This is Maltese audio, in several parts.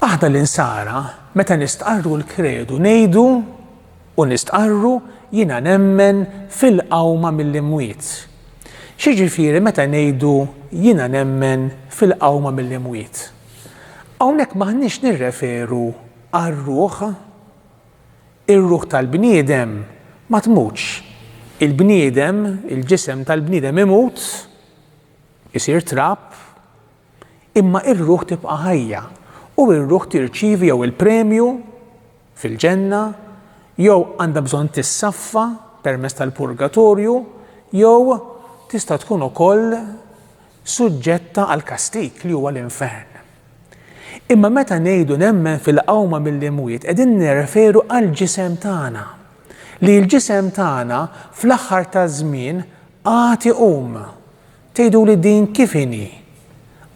Aħna l-insara, meta nistqarru l-kredu ngħidu u nistqarru jiena nemmen fil-qawma mill-imwiet. Xiġifieri meta ngħidu jiena nemmen fil-qawma mill-imwiet? Hawnhekk m'aħniex nirreferu għar-ruħ Ir-ruħ tal-bniedem ma tmutx. Il-bniedem, il-ġisem tal-bniedem imut, isir trab, imma r-ruħ tibqa' ħajja, u r-ruħ tirċievi jew il-premju fil-ġenna, jew għandha bżonn tissaffa permezz tal-purgatorju, jew tista' tkun ukoll suġġetta għall-kastig li huwa l-infern. Imma meta ngħidu nemmen fil-qawma mill-imwiet qegħdin nirreferu għall-ġisem tagħna, li l-ġisem tagħna fl-aħħar taż-żmien għad iqum. Tgħiduli din kif inhi?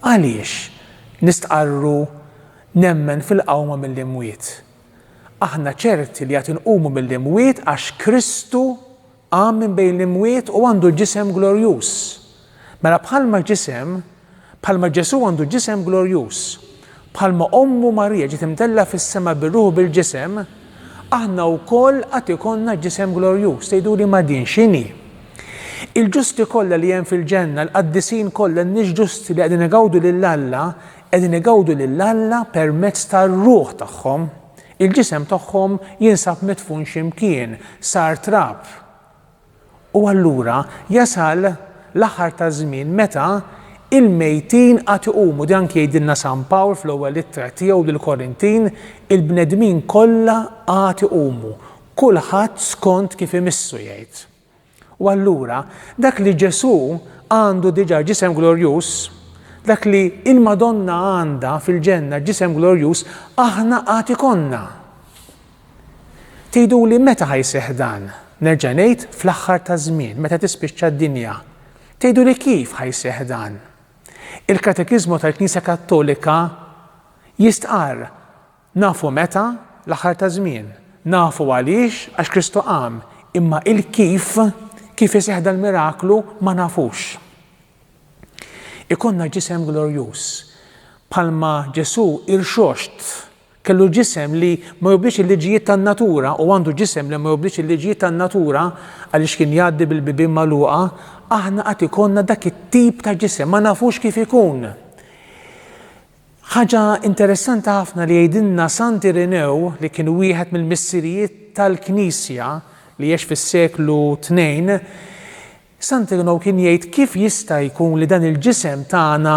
Għaliex nistqarru nemmen fil-qawma mill-imwiet? Aħna ċerti li għad inqumu mill-imwiet għax Kristu Qam minn bejn l-imwiet u għandu ġisem glorjuż. Mela bħalma ġisem, bħalma Ġesù għandu ġisem glorjuż, bħalma ommu Marija ġiet imtellgħa fis-sema bir-ruħ u bil-ġisem, aħna wkoll għad ikollna ġisem glorjuż. Tgħiduli ma din x'inhi? Il-ġusti kollha li hemm fil-ġenna, l-qaddisin kollha, n-nies ġusti li qegħdin igawdu lil Alla, qegħdin igawdu lil Alla permezz tar-ruħ tagħhom. Il-ġisem tagħhom jinsab midfun xi mkien, sar trab. U allura jasal l-aħħar taż-żmien meta il-mejtin għad iqumu. Di anki jgħidilna San Pawl fl-ewwel ittra tiegħu lill-Korintin, il-bnedmin kollha għad iqumu, kulħadd skont kif imissu jgħid. U allura, dak li Ġesù għandu diġà ġisem glorjuż, dak li l-Madonna għandha fil-ġenna ġisem glorjuż, aħna għad ikollna. Tgħiduli meta ħa jseħħ dan? Nerġa' ngħid fl-aħħar taż-żmien, meta tispiċċa d-dinja. Tgħiduli kif ħa jseħħ dan? Il-Katekiżmu tal-Knisja Kattolika jistqarr Nafu meta? L-aħħar taż-żmien. Nafu għaliex? Għax Kristu qam. Imma il-kif, kif iseħħ dal-miraklu, ma nafux. Ikollna ġisem glorjuż. Bħalma Ġesù irxoxt, kellu ġisem li ma jobdix il-liġijiet tan-natura u għandu ġisem li ma jobdix il-liġijiet tan-natura għaliex kien jgħaddi bil-bibien magħluqa, aħna qatt ikollna dak it-tip ta' ġisem, ma nafux kif ikun. Ħaġa interessanti ħafna li jgħidilna Sant Irinew li kien wieħed mill-missirijiet tal-Knisja li għex fis-seklu tnejn, Sant Irinew kien jgħid kif jista' jkun li dan il-ġisem tagħna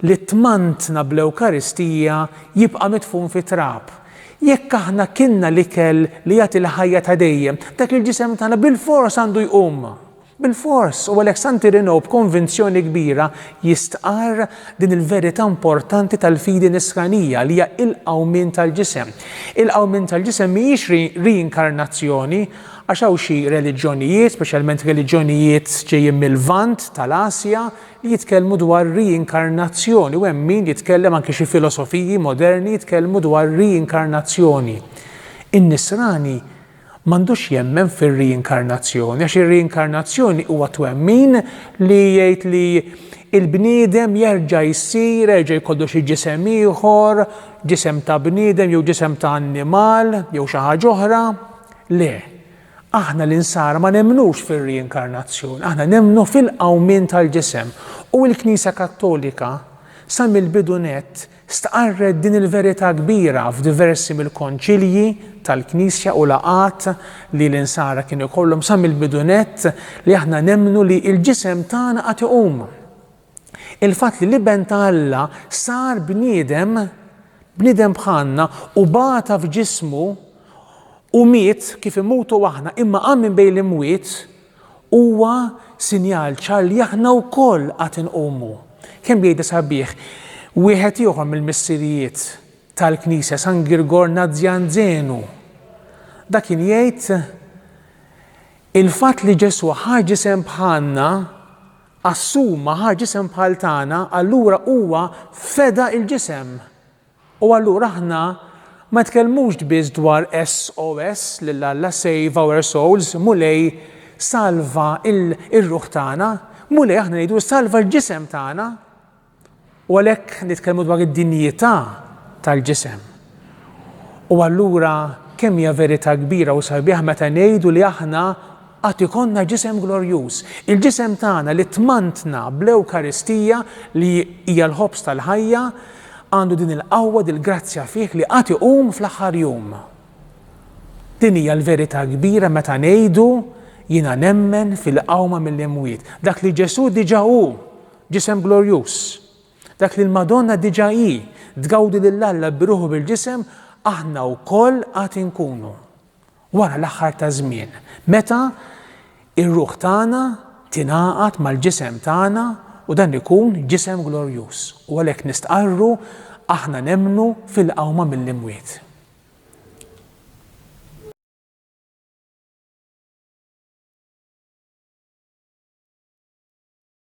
li ttmantna bl-Ewkaristija jibqa' midfun fit-trab. Jekk aħna kilna l-ikel li jagħti l-ħajja ta' dejjem, dak il-ġisem tagħna bilfors għandu jqum. Bilfors, u għalhekk San Irenew b'konvinzjoni kbira jistqarr din il-verità importanti tal-fidi nisranija li hija il-qawmien tal-ġisem. Il-qawmien tal-ġisem mhijiex riinkarnazzjoni, għax hawn xi reliġjonijiet, speċjalment reliġjonijiet ġejjin mil-Lvant, tal-Asja, li jitkellmu dwar riinkarnazzjoni u hemm min jitkellem anki xi filosofiji moderni jitkellmu dwar riinkarnazzjoni. In-Nisrani m'għandux jemmen fir-riinkarnazzjoni għax ir-riinkarnazzjoni huwa twemmin li jgħid li l-bniedem jerġa' jsir, jerġa' jkollu xi ġisem ieħor, ġisem ta' bniedem jew ġisem ta' annimal jew xi ħaġa oħra. Le, aħna l-Insara ma nemmnux fir-riinkarnazzjoni, aħna nemmnu fil-qawmien tal-ġisem u l-Knisja Kattolika sa mill-bidu nett Stqarret din il-verità kbira f'diversi mill-Konċilji tal-Knisja u laqgħat li l-Insara kienu jkollhom sa mill-bidu nett li aħna nemmnu li l-ġisem tagħna għad iqum. Il-fatt li l-Iben ta' Alla sar bniedem, bniedem bħalna u bata f'ġismu u miet kif imutu aħna imma qam minn bejn l-imwiet Huwa sinjal ċar li aħna wkoll għad inqumu. Kemm jgħidha sabiħ wieħed ieħor mill-missirijiet tal-Knisja, San Girgor Nazzjanzenu. Dak kien jgħid, Il-fatt li Ġesù ħa ġisem bħalna, assuma, ħa ġisem bħal tagħna, allura huwa feda l-ġisem U allura aħna ma nitkellmux biss dwar SOS lil Alla, Save Our Souls, Mulej salva l-ruħ tagħna, Mulej aħna ngħidu salva l-ġisem tagħna. U għalhekk nitkellmu dwar id-dinjità tal-ġisem. U allura kemm hija verità kbira u sabiħa meta ngħidu li aħna Għad ikollna ġisem glorjuż. Il-ġisem tagħna li tmantna bl-Ewkaristija, li hija l-ħobż tal-ħajja, għandu din il-qawwa, dil-grazzja fih li għad iqum fl-aħħar jum. Din hija l-verità kbira meta ngħidu, Jiena nemmen fil-qawma mill-imwiet. Dak li Ġesù diġà hu, ġisem glorjuż. Dak li l-Madonna diġà hi, tgawdi lil Alla bi ruħu bil-ġisem, aħna wkoll għad inkunu. Wara l-aħħar taż-żmien, meta r-ruħ tagħna tingħaqad mal-ġisem tagħna u dan ikun ġisem glorjuż, u għalhekk nistqarru, Aħna nemmnu fil-qawma mill-imwiet.